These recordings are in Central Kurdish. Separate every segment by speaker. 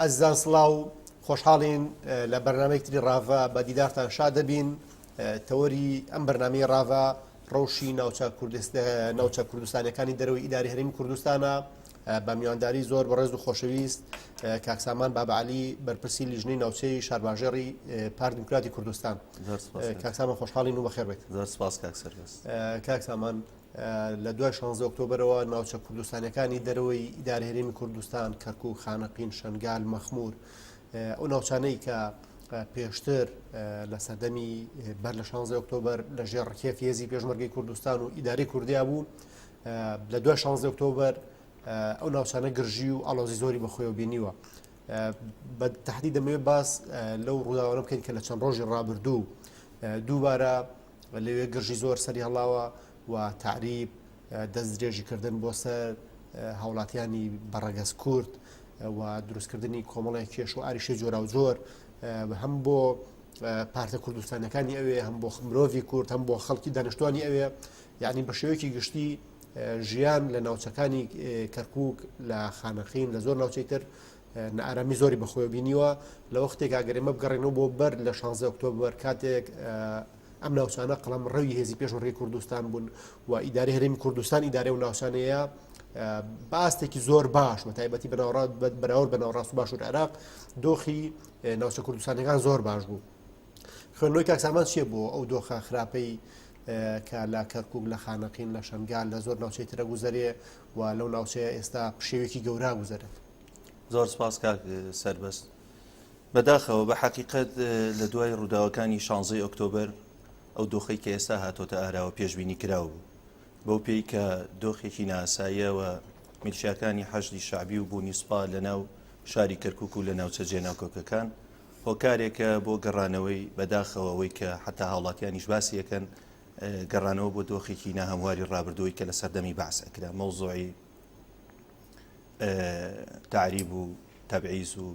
Speaker 1: ئەزیزان سڵاو، خۆشحاڵین لە بەرنامەیەکی تری ڕاڤە بە دیدارتان شاد دەبین. تەوەری ئەم بەرنامەی ڕاڤە ڕەوشی ناوچە کوردست ناوچە کوردستانیەکانی دەرەوەی ئیداری هەرێمی کوردستانە بە میوانداری زۆر بەڕێز و خۆشەویست کاک سامان بابعالی بەرپرسی لیژنەی ناوچەی شارباژێڕی پارت دیموکراتی کوردستان زۆر سپاس. کاک سامان خۆشحاڵین و بەخێر بێت زۆر سپاس کاک
Speaker 2: سەرکەس. کاک سامان
Speaker 1: لە دوای شانزدە ئۆکتۆبەرەوە ناوچە کوردستانەکانی دەرەوەی ئیدارە هەرێمی کوردستان کەرکوک خانەقین شنگال مەخمور ئەو ناوچانەی کە پێشتر لە سەردەمی بەر لە شانزە ئۆکتۆبەر لە ژێر ڕکێف هێزی پێشمەرگی کوردستان و ئیداری کوردیا بوو لە دوای شانزە ئۆکتۆبەر ئەو ناوچانە گرژی و ئالۆزی زۆری بەخۆی و بینیوە بە تهدی دەمەوێت باس لەو ڕووداوانە بکەین کە لە چەند ڕۆژی ڕابردوو دووبارە لەوێ گرژی زۆر سەری هەڵاوە و تەعریب، دەست درێژی کردن بۆ سەر هاوڵاتیانی بە ڕەگەز کورد و دروستکردنی کۆمەڵی کێش و ئاریشەی جۆراوجۆر هەم بۆ پارتە کوردستانەکانی ئەوێ هەم بۆ مرۆڤی کورد هەم بۆ خەڵکی دانیشتوانی ئەوێ یعنی بە شێوەیەکی گشتی ژیان لە ناوچەکانی کەرکک لە خانەخین لە زۆر ناوچەی تر نائارامی زۆری بەخۆوە بینیوە لە وەختێک ئەگەرێمە بگەڕێنەوە بۆ بەر لە 16 ئۆکتۆبەر کاتێک ئەم ناوچانە قەڵم ڕەوی هێزی پێشڕی کوردستان بوون و ئیداری هەرێمی کوردستان ئیدارێ و ناوچانەیە باستێکی زۆر باش و تایبەتی بەناوڕات بەراورد بە ناوڕاست باشور عراق دۆخی ناوچە کوردستانەکان زۆر باش بوو خوێنەوەی کاکسامان چیە بۆ ئەو دۆخە خراپەی کە لە کەرکک لە خانەقین لە شنگال لە زۆر ناوچەی ترە گوزەرێ و لەو ناوچەیە ئێستا پشێوێکی گەورە گوزەرێت. زۆر سپاس
Speaker 2: کاک سەربەست بەداخەوە بە حەقیقەت لە دوای ڕووداوەکانی شانزەی ئۆکتۆبر ئەو دۆخی کە ئێستا هاتۆتە ئاراوە پێشببینی کراو بوو بەو پێی کە دۆخێکی ناساییەوە میلشاکانی حەشدی شعبی و بوونی سوپا لە ناو شاری کەرکک و لە ناوچە جێناکۆکەکان هۆکارێکە بۆ گەڕانەوەی بەداخەوەەوەی کە حتا هاوڵاتیانیش باسیەکەن گەڕانەوە بۆ دۆخێکی ناهەمواری ڕابردووی کە لە سەردەمی بەعس ئەکرا مەوزۆی تعریب و تەبعیز و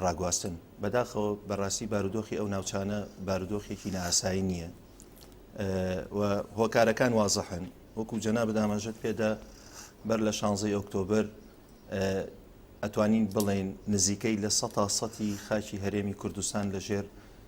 Speaker 2: ڕاگواستن بەداخەوە بەڕاستی بارودۆخی ئەو ناوچانە بارودۆخێکی ناسایی نییە و هۆکارەکان وازەحن وەکو جەنا بدامەژت پێدا بەر لە شانزەی ئۆکتۆبر ئەتوانین بڵێن نزیکەی لە سە سەتی خاکی هەرێمی کوردستان لەژێر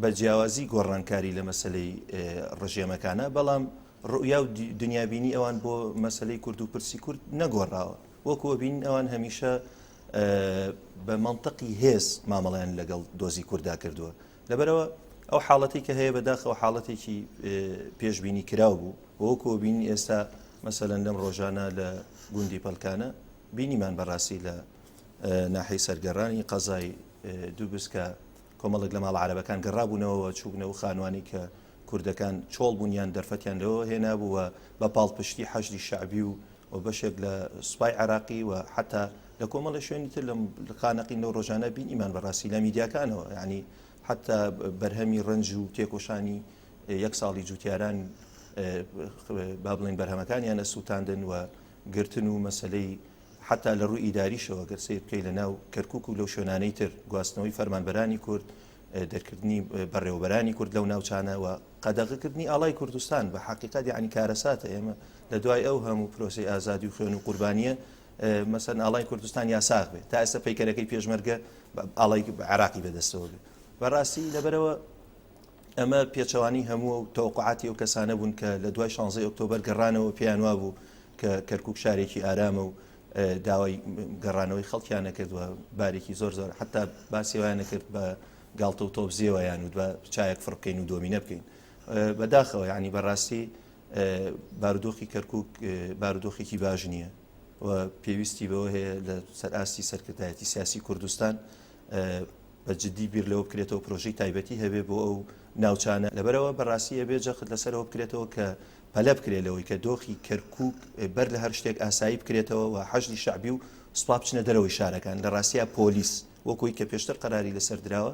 Speaker 2: بە جیاوازی گۆڕانکاری لە مەسلەی ڕژێمەکانە بەڵام ڕوئیا و دنیابینی ئەوان بۆ مەسلەی کورد و پرسی کورد نەگۆڕاوە وەکووە بین ئەوان هەمیشە بە منطقی هێز مامەڵیان لەگەڵ دۆزی کووردا کردووە لەبەرەوە ئەو حاڵەتی کە هەیە بەداخەوە حاڵەتێکی پێشببینی کراو بوو وەکو بین ئێستا مەسەەن لەم ڕۆژانە لە گوندی پەلکانە بینیمان بەڕاستی لە ناحی سەرگەڕانی قەزای دووبسکە کۆمەڵێک لە ماڵە عەرەبەکان گەڕابوونەوە و چووبنە و خانوانی کە کوردەکان چۆڵ بوون یان دەرفەتیان لەوە هێنابوو و بە پاڵپشتی حەشدی شەعبی و و بەشێک لە سوپای عێراقی و حتا لە کۆمەڵی شوێنی تر لەم خانەقین لەو ڕۆژانە بین ئیمان بەڕاستی لە میدیاکانەوە ینی حتا بەرهەمی ڕنج و تێکۆشانی یەک ساڵی جوتیاران با بڵین بەرهەمەکانیان لە سووتاندن و گرتن و مەسلەی حەتا لە رووی ئیداریشەوە گەر سەیر بکەی لە ناو کەرکوک و لەو شوێنانەی تر گواستنەوەی فەرمانبەرانی کورد دەرکردنی بەڕێوەبەرانی کورد لەو ناوچانەوە قەدەغەکردنی ئاڵای کوردستان بە حقیقت یعنی کارەساتە ئێمە لە دوای ئەو هەموو پرۆسی ئازادی و خوێن و قوربانیە مەسەن ئاڵای کوردستان یاساغ بێت تا ئێستا پیکەرەکەی پێشمەرگە ئاڵای عراقی بەدەستەوە بێت بەڕاستی لەبەرەوە ئەمە پێچەوانەی هەموو و تەوقعاتی ئەو کەسانە بوون کە لە دوای 16 ئۆکتۆبەر گەڕانەوە پێیان وا بوو کە کەرکک شارێکی ئارامە و داوای گەڕانەوەی خەڵکیان نەکردوە بارێکی زۆر زۆر حتا باسیوان نەکرد بە گاڵتە و تۆبزیێوەیان و دوە چایەک فڕکەین و دۆمینە بکەین بەداخەوە ینی بەڕاستی بارودۆخی کەرکک بارودۆخێکی باش نییە و پێویستی بەوە هەیە لە سەر ئاستی سەرکردایەتی سیاسی کوردستان بە جدی بیر لەوە بکرێتەوە پرۆژەی تایبەتی هەبێ بۆ ئەو ناوچانە لەبەرئەوە بە راستی ئەبێ جەخت لەسەرەوە بکرێتەوە کە پەلە بکرێ لەوەی کە دۆخی کەرکوک بەر لە هەر شتێک ئاسایی بکرێتەوە و حەشدی شەعبی و سوپا بچنە دەرەوەی شارەکان لە راستیا پۆلیس وەکۆی کە پێشتر قەراری لەسەر دراوە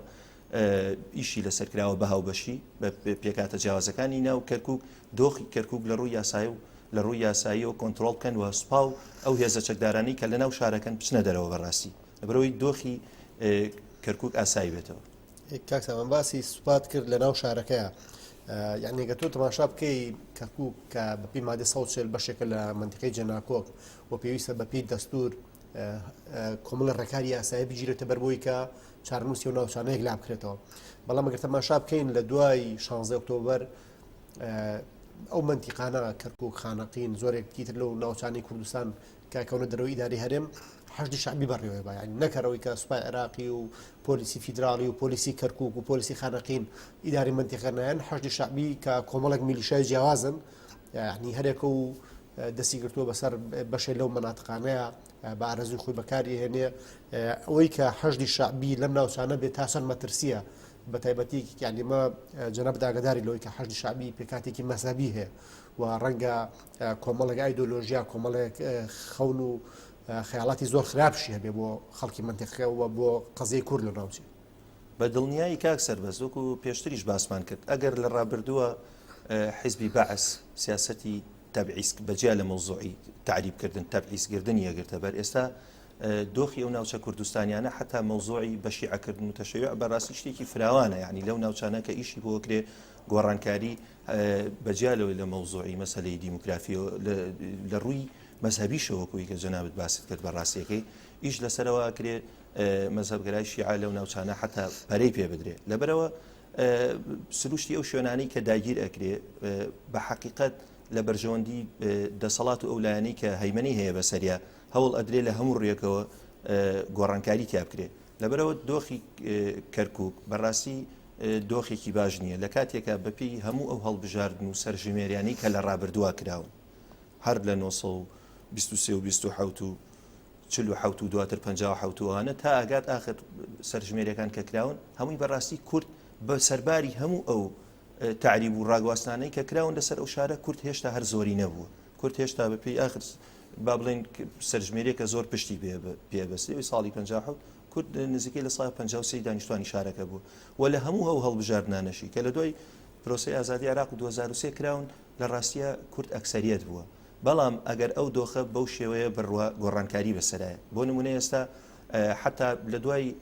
Speaker 2: ئیشی لەسەر کراوە بە هاوبەشی بە پێکاتە جیاوازەکانی ناو کەرکک دۆخی کەرکک لە ڕووی یاسای و لە ڕووی یاساییەوە کۆنتترۆل بکەن و سوپا و ئەو هێزە چەکدارانی کە لە ناو شارەکەن بچنە دەرەوە بەڕاستی لەبەرەوەی دۆخی کەرکک ئاسایی بێتەوە کاک سامان باسی
Speaker 1: سوپات کرد لە ناو شارەکەیە یانێگە تۆ تەماشا بکەی کەرکک کە بەپی مادە سەچێل بەشێکە لە منتیقی جەناکۆک و پێویستە بەپی دەستور کۆمەڵە ڕێکاری یاسایی بگیرێتە بەر بۆی کە چارنووسی و ناوچانەیەک لا بکرێتەوە بەڵام گەر تەماشا بکەین لە دوای 16 ئۆکتۆبر ئەو منتیقانە کەرکک خانەقین زۆرێک تیتر لەو ناوچانی کوردستان کە کەونە دەرەوەی ئیدارەی هەرێم حەشدی شەعبی بەڕێوەی بە یانی نەکەر ئەوەی کە سوپای عێراقی و پۆلیسی فیدراڵی و پۆلیسی کەرکک و پۆلیسی خانەقین ئیداری منتیقەنایەن حەشدی شەعبی کە کۆمەڵک میلیشای جیاوازن یعنی هەرێکە و دەستی گرتووە بەسەر بەشێ لەو مناتقانەیە بە ئارەزوی خۆی بەکاری هێنێ ئەوەی کە حەشدی شەعبی لەم ناوچانە بێت تاسەر مەترسیە بە تایبەتی یانیمە جەنەب داگداری لەوەی کە حەشدی شەعبی پێکاتێکی مەسەبی هەیە و ڕەنگە کۆمەڵێک ئایدۆلۆژیا کۆمەڵێک خەون و خەیاڵاتی زۆر خراپشی هەبێ بۆ خەڵکی منتەقەوە بۆ قەزیی کورد لە ناوچێ بە دڵنیایی
Speaker 2: کاک سەربەز وەکو پێشتریش باسمان کرد ئەگەر لە ڕابردووە حیزبی بەعس سیاسەتی تەبعیسک بەجیا لە مەوزوعی تعریبکردن تەبعیسگردنی یەگرتە بەر ئێستا دۆخی ئەو ناوچە کوردستانیانە حتا مەوزۆی بەشیعکردن و تەشەیع بەڕاستی شتێکی فراوانە ینی لەو ناوچانە کە ئیشی بۆکرێ گۆڕانکاری بە جیا لەوەی لە مەوزوعی مەسەلەی دیموگرافیەوە لە ڕووی مەزهەبیشەوە وەکوو یەکێ جەنابت باست کرد بە ڕاستیەکەی ئیش لەسەرەوە ئەکرێ مەزهبگەرای شیعە لەو ناوچانە حتا پەرەی پێ بدرێ لەبەرەوە سروشتی ئەو شوێنانی کە داگیر ئەکرێ بە حقیقت لە بەرژەوەندی دەسەڵات و ئەو لایەنی کە هەیمەنی هەیە بەسەریا هەوڵ ئەدرێ لە هەموو ڕێکەوە گۆڕانکاری تیا بکرێ لەبەرئەوە دۆخی کەرکوک بەڕاستی دۆخێکی باش نییە لە کاتێکە بەپی هەموو ئەو هەڵبژاردن و سەرژمێریانی کە لە ڕابردووە کراون هەر لە 1920 و چلو حوت و دواتر پ حوتوانە تا ئەگات ئاخر سەرژمێرەکان کە کراون هەمووی بەڕاستی کورد بە سەرباری هەموو ئەو تعریب و ڕاگواستانەی کە کراون لەسەر ئەو شارە کورد هێشتا هەر زۆری نەبووە کورد هێشتا بەپی ئاخر با بڵین سەرژمێریەکە زۆر پشتی پێبەستی ساڵی 1950 کورد نزیکەی لە سای 53 دانیشتوانی شارەکە بوو و لە هەموو ئەو هەڵبژاردنانەشی کە لە دوای پرۆسی ئازادی عراق 2023 کراون لە ڕاستیە کورد ئەکسریت بووە بەڵام ئەگەر ئەو دۆخە بەو شێوەیە بڕوە گۆڕانکاری بەسەرایە بۆ نمونە ئێستا حتا لە دوای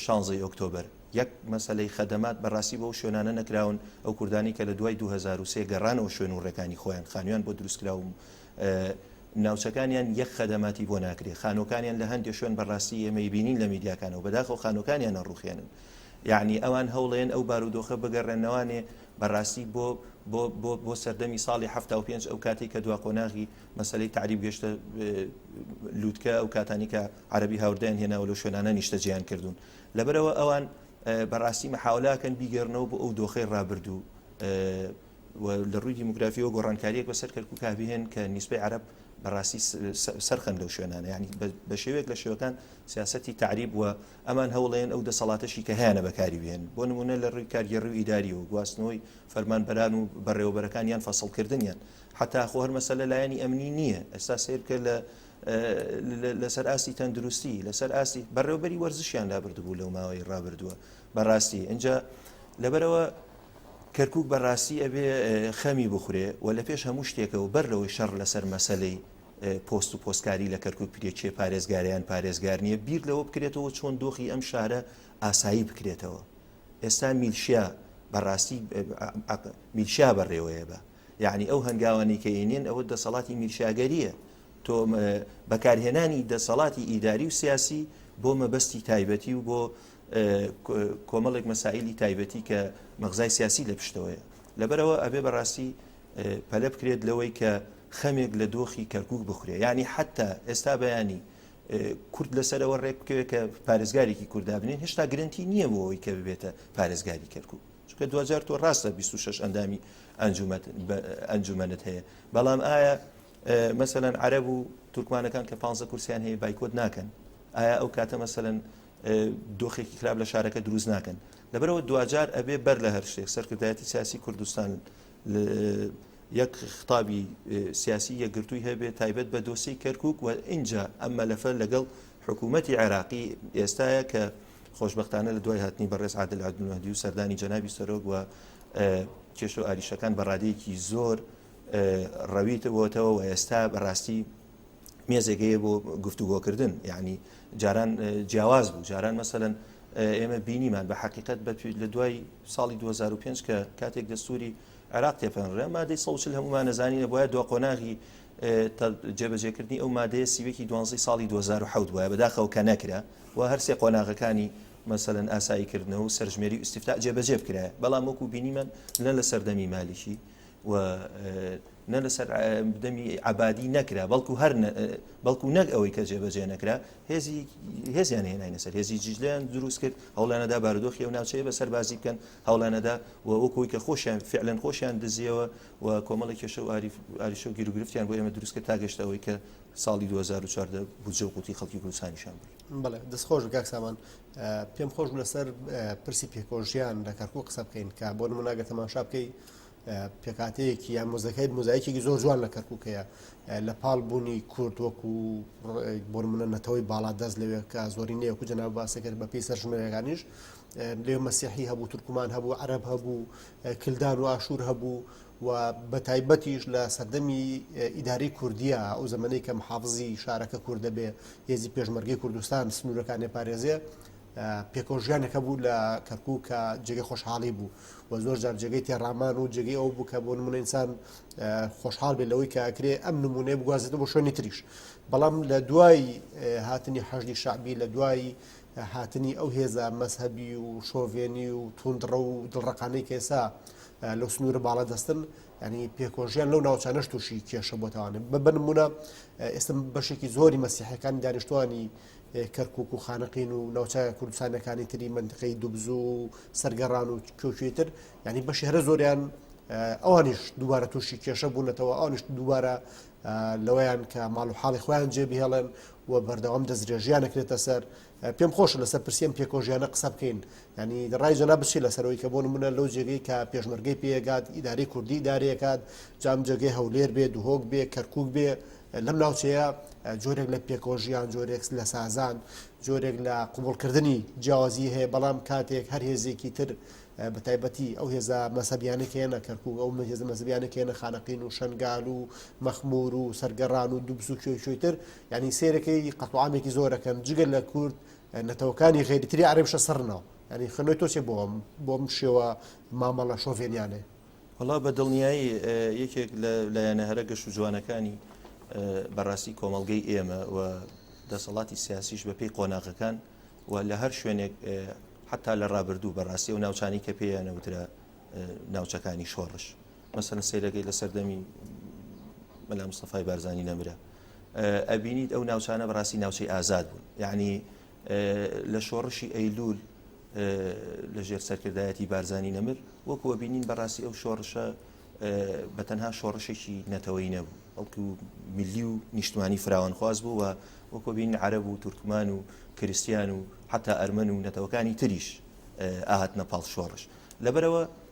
Speaker 2: شانزەی ئۆکتۆبەر یەک مەسەلەی خەدەمات بەڕاستی بەو شوێنانە نەکراون ئەو کوردانی کە لە دوای 2023 گەڕانەوە شوێن و ڕێکانی خۆیان خانوان بۆ دروستکراوم ناوچەکانیان یەک خەدەماتی بۆ ناکرێ خانۆکانیان لە هەندێک شوێن بەڕاستی ئێمەی بینین لە میدیاکانەوە بەداخە و خانۆکانیان نەڕوخێنن یعنی ئەوان هەوڵێن ئەو بارودۆخە بگەڕێنەوانێ بەڕاستی بۆ بۆ بۆ بۆ سەردەمی ساڵی ه پێنج ئەو کاتی کە دوا قۆناغی مەسلەی تعریب گەشتە لووتکە ئەو کاتانی کە عەرەبی هاوردەیان هێناوە لەو شوێنانە نیشتەجێیان کردوون لەبەرئەوە ئەوان بەڕاستی مەحاولاکەن بیگەرنەوە بۆ ئەو دۆخی ڕابردوو لە ڕووی دیموگرافیەوە گۆڕانکاریەک بەسەر کەرکک کابهێن کە نیسبەی عرب بەڕاستی سەرخەن لەو شوێنانە ینی بە شێوێک لە شێوەکان سیاستی تعریب وە ئەمان هەوڵێن ئەو دەسەڵاتەشی کە هیانە بەکاری بێن بۆ نمونە لە ڕووی کارگەڕی و ئیداری و گواستنەوەی فەرمانبەران و بەڕێوەبەرەکان یان فەسڵکردنیان حتا خۆ هەر مەسەلە لایەنی ئەمنی نییە ئەستا سیر بکە لە لەسەر ئاستی تەندروستی لەسەر ئاستی بەڕێوبەری وەرزشیان لابردبوو لەو ماوەی ڕابردووە بەڕاستی ئەجا لەبەرەوە کەرکک بەڕاستی ئەبێ خەمی بخورێ و لە پێش هەموو شتێکەوە بەر لەوەی شەڕ لەسەر مەسلەی پۆست و پۆستکاری لە کەرکک پرێکێ پارێزگاریان پارێزگار نییە بیر لەوە بکرێتەوە چۆن دۆخی ئەم شارە ئاسایی بکرێتەوە ئێستا میلشیا بەڕاستی میلشیا بەڕێوەیە بە یەعنی ئەو هەنگاوانەی کە ئەینێن ئەوە دەسەڵاتی میرشاگەرییە، تۆ بەکارهێنانی دەسەڵاتی ئیداری و سیاسی بۆ مەبەستی تایبەتی و بۆ کۆمەڵێک مەسائلی تایبەتی کە مەغزای سیاسی لە پشتەوەیە لەبەرەوە ئەبێ بەڕاستی پەلە بکرێت لەوەی کە خەمێک لە دۆخی کەرکک بخورێ ینی حتا ئێستا بەیانی کورد لەسەرەوە ڕێک بکەوێت کە پارێزگارێکی کوردابنین هێشتا گرنتی نییە بۆ ئەوی کە ببێتە پارێزگاری کەرکک چونکە دواجار تۆ ڕاستە 26 ئەندامی ئەنجومەنت هەیە بەڵام ئایا مەسەەن عەرب و تورکمانەکان کە پ کورسیان هەیە بایکۆت ناکەن ئایا ئەو کاتە مەسەن دۆخێکی خراپ لە شارەکە دروست ناکەن لەبەرەوە دواجار ئەبێ بەر لە هەر شتێک سەرکردایەتی سیاسی کوردستان یەک خطابی سیاسی یەکگرتووی هەبێت تایبەت بە دۆسی کەرکک و ئینجا ئەم مەلەفە لەگەڵ حکوومەتتی عێراقی ئێستاە کە خۆشبەختانە لە دوای هاتنی بەڕێز عادل عەبدولمەهدی و سەردانی جەنابی سەرۆک و کێشە و ئاریشەکان بە ڕادەیەکی زۆر ڕەویتەوەتەوە و ئێستا بەڕاستی مێزێگەیە بۆ گفتوگۆکردن یعنی جاران جیاواز بوو جاران مەسەن ئێمە بینیمان بە حقیقت بە لە دوای ساڵی 2005 کە کاتێک دەستوری عراق تێپەنرە مادەی سەوچل هەمومان نەزانینە بۆە دو قۆناغی جێبەجێکردنی ئەو مادەیە سیوەکی دوانزی ساڵی 2010 وایە بەداخەوە کە نەکرا و هەر سێ قۆناغەکانی مەسەلەن ئاسایی کردنەوە و سەرژمێری ئیسیفتا جێبەجێ بکرایە بەڵام وەکو بینیمان نە لە سەردەمی مالیکی و نە لەسەر دەمی عبادی نەکرا بەڵکو هەر بەڵکو نەک ئەوەی کە جێبەجێ نەکرا هێزی هێزیان هێناینە سەر هێزی جیجلیان دروست کرد هەوڵانەدا بارودۆخی و ناوچەیە بە سەربازی بکەن هەوڵانەدا و وەکوی کە خۆشیان فعلەن خۆشیان دزیەوە و کۆمەڵی کێشە و عریشە و گیرروگرفتیان بۆ ئێمە دروستکە تا گەشتەوەی کە ساڵی دوو هەزار و چواردە بودجە و قوتی خەڵکی کوردستانیشان برد. بەڵێ دەست خۆش بکاک
Speaker 1: سامان پێم خۆش لەسەر پرسی پێکۆژیان لە کەرکوو قسە بکەین کە بۆ نمو ناگە تەماشا بکەی پێکاتەیەکی یان مۆزەکەیت مۆزایکێکی زۆر جوان لە کەرکووکەیە لە پاڵ بوونی کورد وەکو بۆ منە نەتەوەی باڵا دەست لەوێ کە زۆری نەیەکو جەنا باسەکرد بە پێی سەرژمێرەکانیش لێ مەسیحی هەبوو تورکمان هەبوو عرب هەبوو کلدان و ئاشور هەبوو و بە تایبەتیش لە سەردەمی ئیدارەی کوردیا، ئەو زەمەنەی کە محافزی شارەکە کورد دەبێ، هێزی پێشمەرگەی کوردستان سنوورەکان ئەپارێزێ، پێکەوەژیانێک هەبوو لە کەرکووک کە جێگەی خۆشحاڵی بوو و زۆر جار جێگەی تێڕامان و جێگەی ئەو بوو کە بۆ نمونە ئینسان خۆشحاڵ بێت لەوەی کاکرێ ئەم نمونەیە بگوازێتەوە بۆ شوێنی تریش بەڵام لە دوای هاتنی حەشدی شعبی لە دوای هاتنی ئەو هێزە مەذهبی و شۆڤێنی و توندڕە و دڵڕقانەی کەێسا لەو سنوورە باڵا دەستن ینی پێکۆژیان لەو ناوچانەش تووشی کێشە بۆتەوانێ ببنممونە ئێستا بەشێکی زۆری مەسیحەکان دانیشتوانی کەرکک و خانەقین و ناوچە کوردستانەکانی تری منتقەی دوبزو و سەرگەڕان و کۆکوێتر ینی بە شێرە زۆریان ئەوانیش دووبارە تووشی کێشە بوونەتەوە ئەوانیش دووبارە لەوەیان کە ماڵ و حاڵی خۆیان جێبهێڵێن و بەردەوام دەسترێژیان نەکرێتە سەر پێم خۆشە لەسەر پرسی ئەم پێکۆژیانە قسە بکەین ینی ڕای جەنا بچی لەسەرەوەی کە بۆ منە لەو جێگەی کە پێشمەرگەی پێگات ئیداری کوردی دارەکات جام جێگەی هەولێر بێ دوهۆک بێ کەرکک بێ لەم ناوچەیە جۆرێک لە پێکۆژیان جۆرێکس لە سازان جۆرێک لە قوبولکردنی جیاوازی هەیە بەڵام کاتێک هەر هێزێکی تر بە تایبەتی ئەو هێزە مەسەبیانەکەێنە کەرکک ئەو هێزە مەزبیانەکەێنە خانەقین و شنگال و مەخمور و سەرگەڕان و دوبز و کوێ کوێتر یانی سەیرەکەی قەتوعامێکی زۆرەکەن جگە لە کورد نەتەوەکانی غێری تری عرب شە سەرنەوە ینی خنەوەی تۆچێ بۆم بۆم شێوە مامەڵە شۆڤێنیانێ وڵا بە
Speaker 2: دڵنیایی یەکێک لە لایەنە هەرە گەشت و جوانەکانی بەڕاستی کۆمەلگەی ئێمە و دەسەڵاتی سیاسیش بەپی قۆناغەکان و لە هەر شوێنێک حتا لە ڕابردوو بەڕاستی و ناوچانی کە پێیانەوترا ناوچەکانی شۆڕش مەسەلەن سەیرەکەی لە سەردەمی مەلا مستەفای بارزانانی نەمرە ئەبینیت ئەو ناوچانە بەڕاستی ناوچەی ئازاد بوون یعنی لە شۆڕشی ئەیلول لە ژێر سەرکردایەتی بارزانانی نەمر وەکو ئەبینین بەڕاستی ئەو شۆڕشە بە تەنها شۆڕشێکی نەتەوەی نەبوو ئەڵکو ملی و نیشتمانی فراوانخواز بوو و وەکۆبین عرب و تورکمان و کریسیان و حتا ئەرمەن و نەتەوەکانی تریش ئاهاتنە پاڵ شۆڕش لەبەرەوە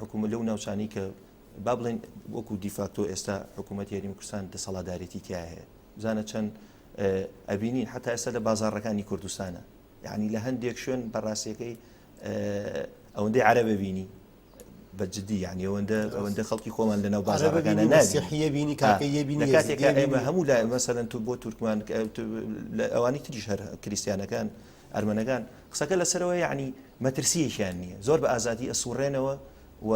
Speaker 2: حکومە لەو ناوچانی کە با بڵێن وەکو دیفاکتۆ ئێستا حکوومەت یاریمی کوردستان دەسەڵادارێتی تیا هەیە بزانە چەند ئەبینین حتا ئێستا لە بازارڕەکانی کوردستانە یعنی لە هەندێک شوێن بەڕاستەکەی ئەوەندەی عربە بینی بەجددی یعنی ئەوەندە ئەوەندە خەڵکی خۆمان لەناو بازارەکان نازیحە بینی کاکە بینی کاتێک ئێمە هەموو لای مەسەرەن تو بۆ تورکمان ئەوانی تریش هەر کریسیانەکان ئەرمەنەکان قسەکە لەسەرەوە یەعنی مەترسیەکیان نییە زۆر بە ئازادی ئەسوڕێنەوە و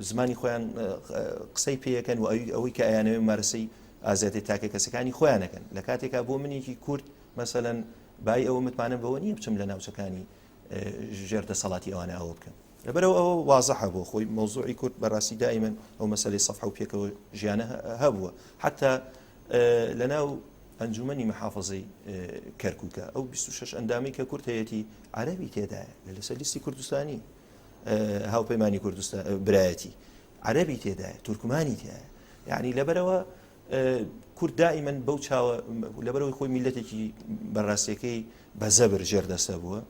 Speaker 2: زمانی خۆیان قسەی پێەکەن و ئەوی ئەوەی کە ئەیانەوەی مارسی ئازادی تاکە کەسەکانی خۆیانەکەن لە کاتێکا بۆ منێکی کورد مەسەەن بای ئەوە متمانە بەوە نییە بچم لە ناوچەکانی ژێر دەسەڵاتی ئەوانە ئەوە بکەن لەبەرەوە ئەوە وازەحە بۆ خۆی مەوزوعی کورد بەڕاستی دائیمەن ئەو مەسلەی سەفح و پێکەوە ژیانە هەبووە حتا لەناو ئەنجومی محافظی کەرکووکە ئەو 26 ئەندامی کە کورت هەیەی عربی تێدایە لە لەسەر لیستی کوردستانی هاوپەیمانانی کوردستان برایەتی عربی تێدایە تورکمانی تایە یعنی لەبەرەوە کورد دائیمەن بەو چاوە لەبەرەوەی خۆی میلەتێکی بەڕاستەکەی بە زەبر ژێردەسە بووە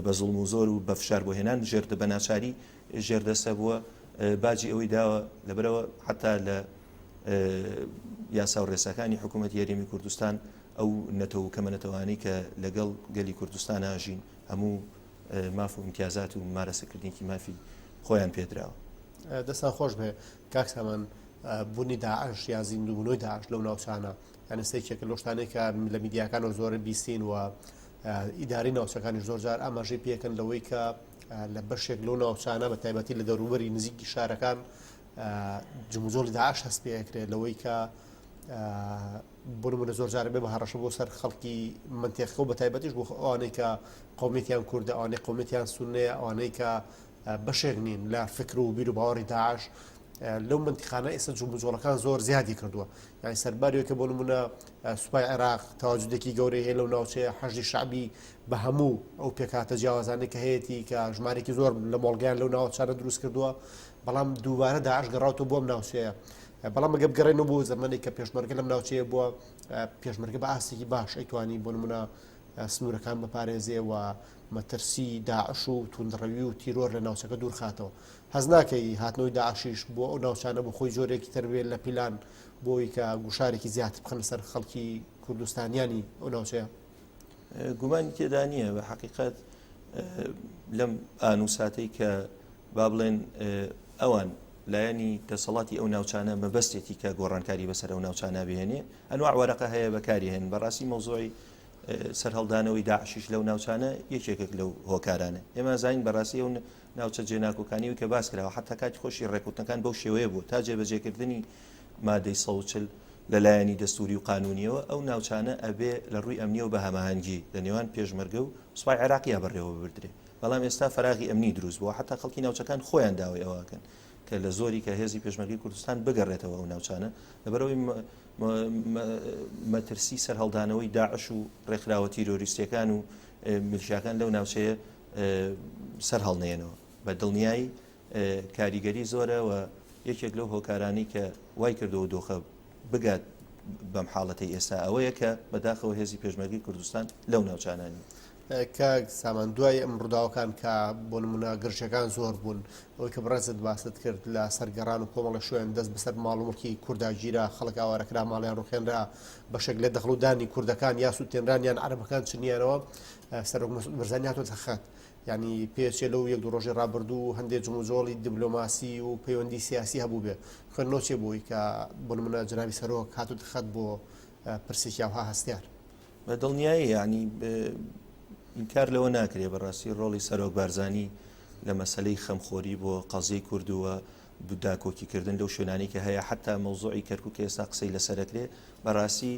Speaker 2: بە زڵم و زۆر و بە فشار بۆ هێنان ژێردە بە ناچاری ژێردەسە بووە باجی ئەوەی داوە لەبەرەوە حتا لە یاسا و ڕێساکانی حکوومەت یاریمی کوردستان ئەو نەتەوە کەمە نەتەوانی کە لەگەڵ گەلی کوردستان ناژین هەموو ماف و امتیازات و مارەسەکردنیکی مافی خۆیان پێدراوە دەستان خۆش
Speaker 1: بێ کاک سامان بونی داعش یا زیندوبونەوەی داعش لەو ناوچانە یانە سێکێکە لەو شتانەی کە لە میدیاکانەوە زۆرە بیستین و ئیداری ناوچەکانی زۆرجار ئاماژەی پێکەن لەوەی کە لە بەشێک لەو ناوچانە بە تایبەتی لە دەوروبەری نزیکی شارەکان جموجۆڵی داعش هەست پێکرێت لەوەی کە بنمونە زۆر جارە بێ بە هەڕەشە بۆ سەر خەڵکی منتێخەوە بە تایبەتیش بۆ ئەوانەی کە قومێتیان کووردە ئەوانەی قومێتیان سونەیە ئەوانەی کە بەشێک نین لە فکر و بیر و باوەڕی داعش لەو منتیقانە ئێستا جوڵ بجۆڵەکان زۆر زیادی کردووە یانی سەرباریەوە کە بۆ نمونە سوپای عێراق تاواجودێکی گەورەی هەیە لەو ناوچەیە حەژی شعبی بە هەموو ئەو پێکاتە جیاوازانی کە هەیەی کە ژمارێکی زۆر لە مۆڵگەیان لەو ناوچارە دروست کردووە بەڵام دووبارە داعش گەڕاوتە بۆم ناوچەیە بەڵام گەب گەڕێن و بۆ زمانی کە پێشمەرگە لەم ناوچەیە بووە پێشمەرگە بە ئاستێکی باش ئەیتوانی بۆ نمونە سنوورەکان بپارێزێ و مەترسی داعش و توندڕەوی و تیرۆر لە ناوچەکە دوورخاتەوە. هەست ناکەی هاتنەوەی داعشیش بۆ ئەو ناوچانە بۆ خۆی جۆرێکی تر بێت لە پیلان بۆ ئەوی کە گوشارێکی زیاتر بخەنە سەر خەڵکی کوردستانیانی ئەو ناوچەیە؟ گومانی
Speaker 2: تێدا نییە بە حقیقت لەم ئانوساتەی کە با بڵێن ئەوان لایەنی دەسەڵاتی ئەو ناوچانە مەبەستێتی کە گۆڕانکاری بەسەر ئەو ناوچانە بهێنێ ئەنواع وەرەقە هەیە بەکاری هێن بەڕاستی مەوزۆی سەرهەڵدانەوەی داعشیش لەو ناوچانە یەکێکێک لەو هۆکارانە ئێمە ئەزانین بەڕاستی ئەو ناوچە جێناکۆکانی کە باس کراوە حتا کاتی خۆشی ڕێکوتنەکان بەو شێوەیە بوو تا جێبەجێکردنی مادەی سەوچل لە لایەنی دەستوری و قانونیەوە ئەو ناوچانە ئەبێ لە ڕووی ئەمنیەوە بە هەماهەنگی لە نێوان پێشمەرگە و سوپای عێراقیە بەڕێوە ببردرێ بەڵام ئێستا فراغی ئەمنی دروست بووە حتا خەڵکی ناوچەکان خۆیان داوای ئەوەکەن کە لە زۆری کە هێزی پێشمەرگەی کوردستان بگەڕێتەوە ئەو ناوچانە لەبەرەوەی مەترسی سەرهەڵدانەوەی داعش و ڕێکخراوە تیرۆریستەکان و ملشاکان لەو ناوچەیە سەر هەڵنێنەوە بە دڵنیایی کاریگەری زۆرە و یەکێک لەو هۆکارانی کە وای کردەوە دۆخە بگات بەم حاڵەتی ئێستا ئەوەیە کە بەداخەوە هێزی پێشمەرگی کوردستان لەو ناوچانانی کاک
Speaker 1: سامان دوای ئەم ڕووداوەکان کە بۆ نمونە گرژەکان زۆر بوون ئەوەی کە بڕێزت باست کرد لە سەرگەڕان و کۆمەڵە شوێن دەست بەسەر ماڵ وڵکی کورداگیرا خەڵک ئاوارەکرا ماڵیان ڕوخێنرا بەشێک لە دەخڵودانی کوردەکان یا سووتێنران یان عربەکان چنیانەوە سەرۆک مەسعود بەرزانی هاتۆتە خەت ینی پێچێ لەو یەک دو ڕۆژی ڕابردوو و هەندێک جموجۆڵی دیبلۆماسی و پەیوەندی سیاسی هەبوو بێ خوێن نۆچێ بۆی کە بۆ منە جناوی سەرۆک هاتو دخەت بۆ پرسێکی ئەوها هەستیار. بە دڵنیایی
Speaker 2: یعنی ئینکار لەوە ناکرێ بەڕاستی ڕۆڵی سەرۆک بارزانانی لە مەسلەی خەمخۆری بۆ قەزیی کردووە داکۆکیکردن لەو شوێنانی کە هەیە حتا مەوزوعی کەرکک ئێستا قسەی لەسەرکرێ بەڕاستی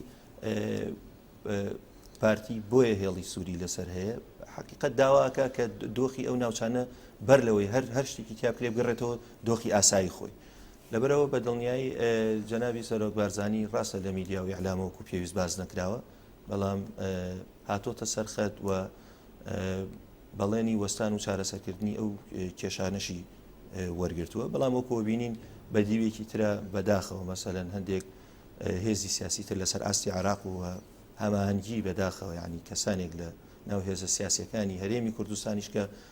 Speaker 2: پارتی بۆیە هێڵی سووری لەسەر هەیە حقیقت داواکە کە دۆخی ئەو ناوچانە بەر لەوەی هەر هەر شتێکی تیاکرێ بگەڕێتەوە دۆخی ئاسایی خۆی لەبەرئەوە بە دڵنیایی جەنابی سەرۆک بارزانی ڕاستە لە میدیا و ئیعلام وەکو پێویست باس نەکراوە، بەڵام هاتۆتە سەر خەت و بەڵێنی وەستان و چارەسەکردنی ئەو کێشانەشی وەرگرتووە، بەڵام وەکو بینین بە دیوێکی ترە بەداخەوە مەسەلەن هەندێک هێزی سیاسی تر لەسەر ئاستی عراق و هەماهەنگی بەداخەوە یعنی کەسانێک لە ناو هێزە سیاسەکانی هەرێمی کوردستانیش کە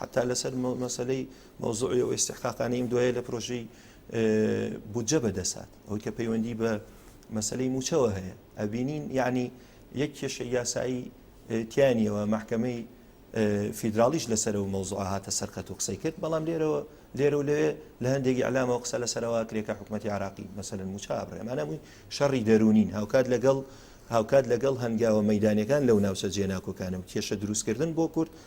Speaker 2: حەتا لەسەر مەسەلەی مەوزوعی و ئیسحقاقانەی ئەم دوایە لە پرۆژەی بودجە بەدەسات ئەوەی کە پەیوەندی بە مەسلەی موچەوە هەیە ئەبینین یعنی یەک کێشە یاسایی تیانیەوە محکمەی فیدراڵیش لەسەر و مەوزوع هاتە سەرقەت و قسەی کرد بەڵام لێرەوە لێرە و لەوێ لە هەندێکی ئەلامەوە قسە لەسەرەوە کرێکە حکوومەتتی عراقی مەسەن موچە بڕێمانەمووی شەڕی دەرونین هاوکات لەگەڵ هاوکات لەگەڵ هەنگاوە مەدانەکان لەو ناوچە جێناکۆکانم کێشە دروستکردن بۆ کورد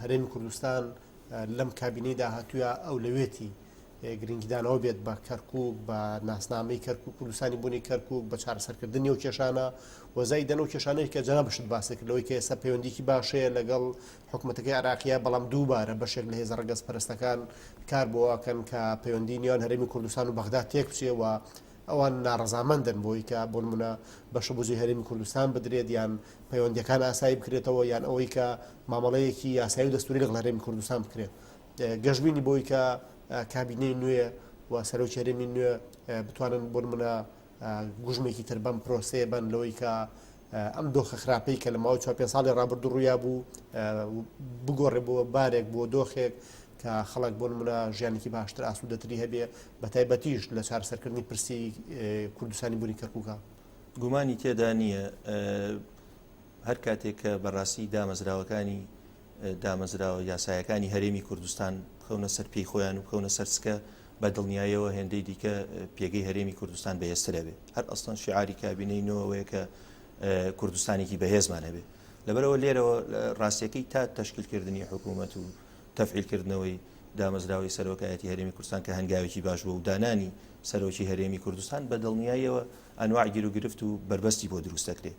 Speaker 1: هەرێمی کوردستان لەم کابینەی داهاتووە ئەولەوێتی گرنگیدانەوە بێت بە کەرکک بە ناسنامەی کەرک و کوردستانی بوونی کەرکک بە چارەسەرکردنی و کێشانە وەزای دەن و کێشانەی کە جەنا بشت باسەکردەوەی کە ئێستا پەیوەندیکی باشەیە لەگەڵ حکوومەتەکەی عراقیە بەڵام دووبارە بەشێک لە هێزە ڕگەز پەرستەکان کار بۆواکەن کە پەیوەندی نیان هەرمی کوردستان و بەغدا تێکچێەوە ئەوان ناڕەزامەندن بۆی کە بۆ نموونە بەشە بوجەی هەرێمی کوردستان بدرێت یان پەیوەندییەکان ئاسایی بکرێتەوە یان ئەوەی کە مامەڵەیەکی یاسایی و دەستوری لەگەڵ هەرێمی کوردستان بکرێت گەشببینی بۆی کە کابینەی نوێ و سەرۆکی هەرێمی نوێ بتوانن بۆ نموونە گوژمێکی تر بەم پرۆسەیە بەن لەوەی کە ئەم دۆخە خراپەی کە لە ماوەی چوار پێنج ساڵی ڕابردوو ڕوویا بوو بگۆڕێ بۆ بارێک بۆ دۆخێک کە خەڵک بۆ نمونە ژیانێکی باشتر ئاسوودەتری هەبێ بە تایبەتیش لە چارەسەرکردنی پرسی کوردستانی بوونی کەرکووکە گومانی تێدا
Speaker 2: نییە هەر کاتێک کە بەڕاستی دامەزراوەکانی دامەزراوە یاسایەکانی هەرێمی کوردستان بخەونە سەر پێی خۆیان و بخەونە سەرسکە بە دڵنیایەوە هێندەی دیکە پێگەی هەرێمی کوردستان بەهێسترەبێ هەر ئەستان شعاری کابینەی نۆەوەیە کە کوردستانێکی بەهێزمان هەبێ لەبەرەوە لێرەوە ڕاستیەکەی تا تشکیلکردنی حکوومەت و تەفعیلکردنەوەی دامەزراوەی سەرۆکایەتی هەرێمی کوردستان کە هەنگاوێکی باش بوو و دانانی سەرۆکی هەرێمی کوردستان بە دڵنیایەوە ئەنواع گیر و گرفت و بربەستی بۆ دروستەکرێت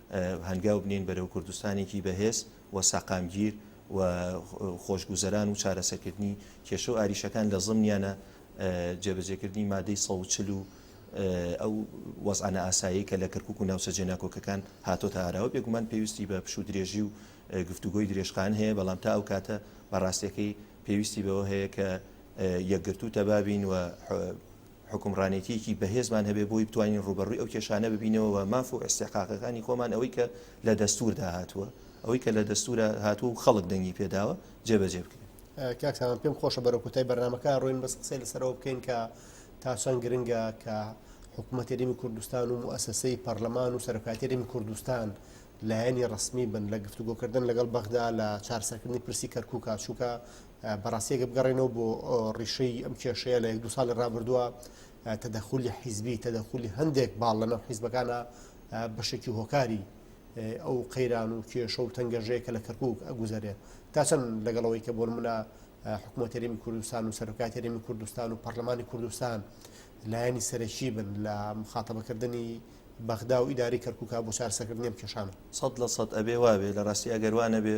Speaker 2: هەنگاو بنێین بەرەو کوردستانێکی بەهێز و سەقامگیر و خۆشگوزەران و چارەسەکردنی کێشە و ئاریشەکان لە زمنیانە جێبەجێکردنی مادەی سە چل و ئەو وەزانە ئاسایی کە لە کەرکک و ناوچە جێناکۆکەکان هاتۆتە ئاراوە بێگومان پێویستی بە پشو درێژی و گفتوگۆی درێژخان هەیە بەڵام تا ئەو کاتە بەڕاستەکەی پێویستی بەوە هەیە کە یەکگرتو تەبابین و حوکمڕانێتیەکی بەهێزمان هەبێ بۆی بتوانین ڕووبەڕووی ئەو کێشانە ببینەوە و ماف و ئیستحقاقەکانی خۆمان ئەوەی کە لە دەستوردا هاتووە ئەوەی کە لە دەستورە هاتوو و خەڵک دەنگی پێداوە جێبەجێ بکرێت کاکتان پێم
Speaker 1: خۆشە بەرە کوتای بەرنمەکە ڕوین بەس قسەی لەسەرەوە بکەین کە تاسان گرنگە کە حکوومەتەریمی کوردستان و ئەسەسەی پەرلەمان و سەرکاتەریم کوردستان لایەنی ڕسمی بن لە گفتوگۆکردن لەگەڵ بەغدا لە چارسەکردنی پرسی کەرکک کاچووکە بەڕاستی ئەگەر بگەڕێنەوە بۆ ڕیشەی ئەم کێشەیە لە یەک دو ساڵی ڕابردووە تەدەخولی حیزبی تەدەخولی هەندێک باڵ لە ناو حیزبەکانە بەشێکی هۆکاری ئەو قەیران و کێشە و تەنگەژەیە کە لە کەرکک ئەگوزارێ تا چەند لەگەڵەوەی کە بۆن منە حکوومەتەرێمی کوردستان و سەرۆکاتەرێمی کوردستان و پەرلەمانی کوردستان لایەنی سەرەکی بن لە مخاتەبەکردنی بەغدا و ئیداری کەرکک بۆ چارسەکردنیم کێشانە سەد لە سەد ئەبێ واێ لە ڕاستی
Speaker 2: ئەگەروانە بێ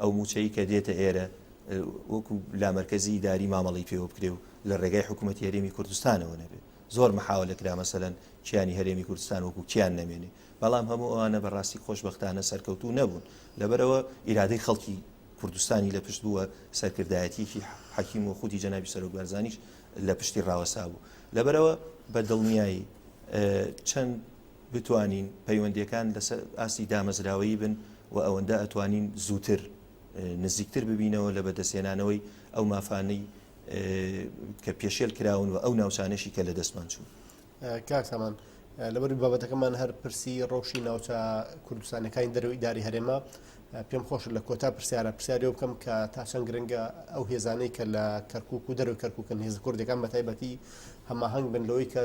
Speaker 2: ئەو مووچەی کە دێتە ئێرە وەکو لامەرکەزی داری مامەڵی پێوە بکرێ و لە ڕێگای حکوومەت هەرێمی کوردستانەوە نەبێ زۆر مححاوە لە کرا مەسەەن کیانی هەرێمی کوردستان وەکو کیان نەمێنێ بەڵام هەموو ئەوانە بەڕاستی خۆشببختانە سەرکەوتو نەبوون لەبەرەوە ئیرادەی خەڵکی کوردستانی لە پشت بووە سەرکردایەتیکی حەکیم و خودی جەنابی سەرۆک بەرزانیش لە پشتی ڕاوەسا بوو لەبەرەوە بە دڵنیایی چەند بتوانین پەیوەندیەکان لەسەر ئاستی دامەزراوەیی بن و ئەوەندە ئەتوانین زووتر نزیکتر ببینەوە لە بەدەستهێنانەوەی ئەو مافانەی کە پێشێل کراون و ئەو ناوچانەشی کە لە دەستمان چوون کاکسامان
Speaker 1: لەبەری بابەتەکەمان هەر پرسی ڕەوشی ناوچە کوردستانەکانی دەرەوەی داری هەرێمە پێم خۆش لە کۆتا پرسیارە پرسیاری بکەم کە تاشەنگ گرنگە ئەو هێزانەی کە لە کەرکک و دەرو کەرککن هێز کوردەکان بە تایبەتی هەماهنگ بن لەوەی کە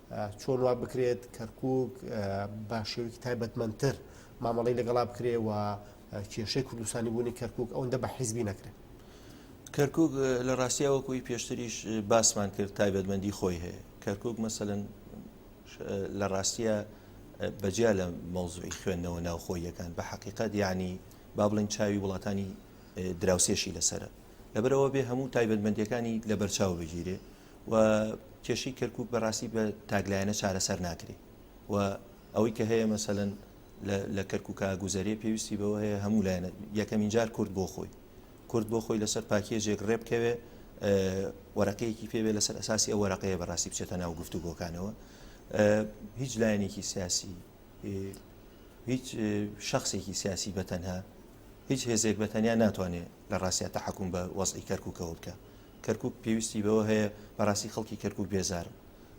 Speaker 1: چۆن وا بکرێت کەرکووک بە شێوەیەکی تایبەتمەندتر مامەڵەی لەگەڵا بکرێ و کێشەی کوردستانی بوونی کەرکووک ئەوەندە بە حیزبی نەکرێت کەرکک
Speaker 2: لە ڕاستیا وەکوی پێشتریش باسمان کرد تایبەتمەندی خۆی هەیە کەرکک مەسەن لە ڕاستیە بەجیا لە مەوزوعی خوێندنەوە ناوخۆیەکان بە حقیقت ینی با بڵین چاوی وڵاتانی دراوسێشی لەسرە لەبەرەوە بێ هەموو تایبەتمەندەکانی لە بەرچاو بگیرێ و کێشەی کەرکک بەڕاستی بە تاکلایەنە چارەسەر ناکری و ئەوەی کە هەیە مەسەن لە کەرککە گوزەرێ پێویستی بەوە هەیە هەموو لایەنە یەکەمین جار کورد بۆ خۆی کورد بۆ خۆی لەسەر پاکیەجێک ڕێبکەوێ وەرەقەیەکی پێوێ لەسەر ئەساسی ئەو وەرەقەیە بەڕاستی بچێتە ناو گفتوگۆکانەوە هیچ لایەنێکی سیاسی هیچ شخصێکی سیاسی بەتەنها هیچ هێزێک بەتەنیا ناتوانێت لە ڕاستە تحکم بە وەزی کەرککەوە بکە کەرکوک پێویستی بەوە هەیە بەراستی خەڵکی کەرکوک بێزارن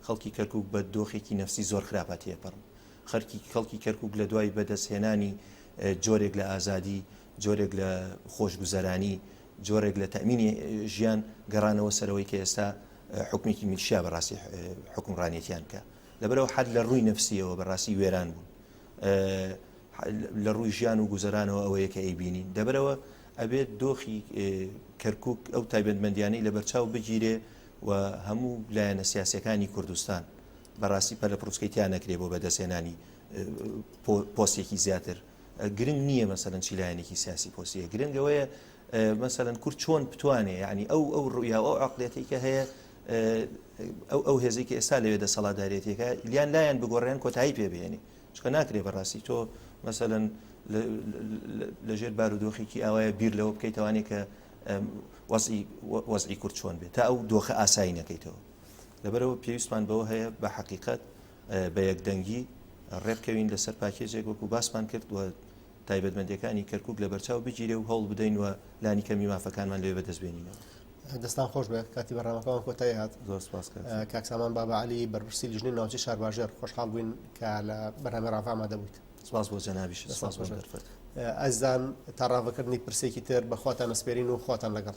Speaker 2: خەڵکی کەرکوک بە دۆخێکی نەفسی زۆر خراپە تێپەرن خەرکی خەڵکی کەرکوک لە دوای بەدەست هێنانی جۆرێک لە ئازادی جۆرێک لە خۆشگوزەرانی جۆرێک لە تەمینی ژیان گەڕانەوە سەرەوەی کە ئێستا حکومێکی میلشیا بەڕاستی حکومڕانێتیان کە لەبەرەوە حد لە ڕووی نەفسیەوە بەڕاستی وێران بوون لە ڕووی ژیان و گوزەرانەوە ئەوەیە کە ئەیبینین دەبەرەوە ئەبێت دۆخی کەرکک ئەو تایبەتمەندیانەی لە بەرچاو بگیرێ و هەموو لایەنە سیاسەکانی کوردستان بەڕاستی پەلە پرۆسکەی تیا نەکرێ بۆ بەدەستێنانی پۆستێکی زیاتر گرنگ نییە مەسەرەن چی لایەنێکی سیاسی پۆسیە گرنگەوەیە مەسەرەن کورد چۆن بتوانێ ینی ئەو ئەو ڕویا ئەو عقلێتی کە هەیە ئەو ئەو هێزێکی ئێستا لەوێ دەسەڵاتدارێتێکە یان لایەن بگۆڕێن کۆتایی پێ بێنی چکە ناکرێ بەڕاستی تۆ مەسەەن لەژێر بارودۆخێکی ئاوایە بیر لەوە بکەیتوانێ کە وەزی کورد چۆن بێت تا ئەو دۆخە ئاسایی نەکەیتەوە لەبەرەوە پێویستمان بەوە هەیە بە حقیقت بە یەکدەنگی ڕێبکەوین لەسەر پاکێجێک وەکو باسمان کرد و تایبەتمەندیەکانی کەرکک لە بەرچاو بگیرێ و هەوڵ بدەین و لانی کەمی مافەکانمان لێ بەدەست بێنینەوە دەستان خۆش
Speaker 1: بێ کاتی بەڕامەکەمان کۆتای هاات زۆر سپاس
Speaker 2: کاکسامان بابا
Speaker 1: علی بەرپرسی لژنی ناوچی شارباژێر خۆشحاڵ بووین کە لە بەرنامە ڕاڤاما دەبوویت سپاس بۆ جەنابیش
Speaker 2: سپاس بۆ دەرفەت
Speaker 1: ئەزان تا ڕاڤەکردنی پرسێکی تر بەخواتان نسپێرین و
Speaker 2: خواتان
Speaker 1: لەگەڵ